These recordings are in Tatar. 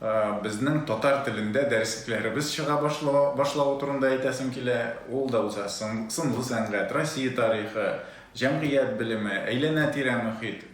Безнең татар телендә дәреслекләребез чыга башлавы турында әйтәсем килә. Ул да уза. Сынлы сәнгать, Россия тарихы, җәмгыять белеме, әйләнә-тирә мөхит,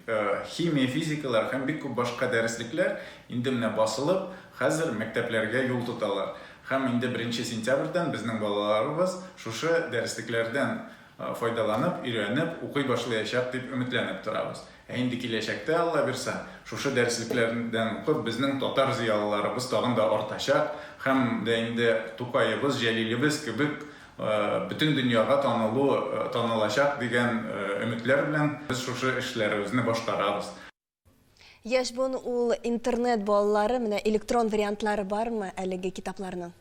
химия, физикалар һәм бик күп башка дәреслекләр инде менә басылып, хәзер мәктәпләргә юл тоталар. Һәм инде беренче сентябрьдән безнең балаларыбыз шушы дәреслекләрдән файдаланып, өйрәнеп, укый башлыячак дип өметләнеп торабыз. Ә инде киләчәктә, Аллабирса, шушы дәреслекләрдән укып, безнең татар зыялыларыбыз тагын да артачак һәм дә инде Тукаебыз, Җәлилебез кебек бөтен дөньяга танылу, танылачак дигән өметләр белән без шушы эшләребезне башкарабыз. Яшь буын ул интернет балалары, менә электрон вариантлары бармы әлеге китапларның?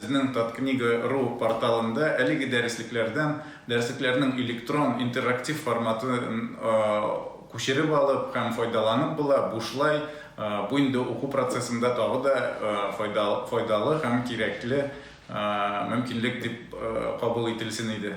Безнең Таткнига ру порталында әлеге дәреслекләрдән дәреслекләрнең электрон интерактив форматын күчереп алып һәм файдаланып була, бушлай, бу инде уку процессында тагы да файдалы һәм кирәкле мөмкинлек дип кабул ителсен иде.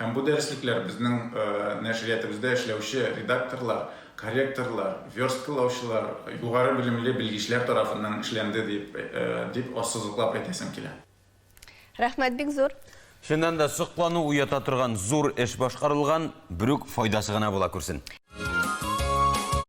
Һәм бу дәреслекләр безнең нәшриятыбызда эшләүче редакторлар, корректорлар, версткалаучылар, югары белемле белгечләр тарафыннан эшләнде дип, дип ассызыклап әйтәсем килә. Рәхмәт бик зур! Чыннан да, соклану уята торган зур эш башкарылган, берүк файдасы гына була күрсен!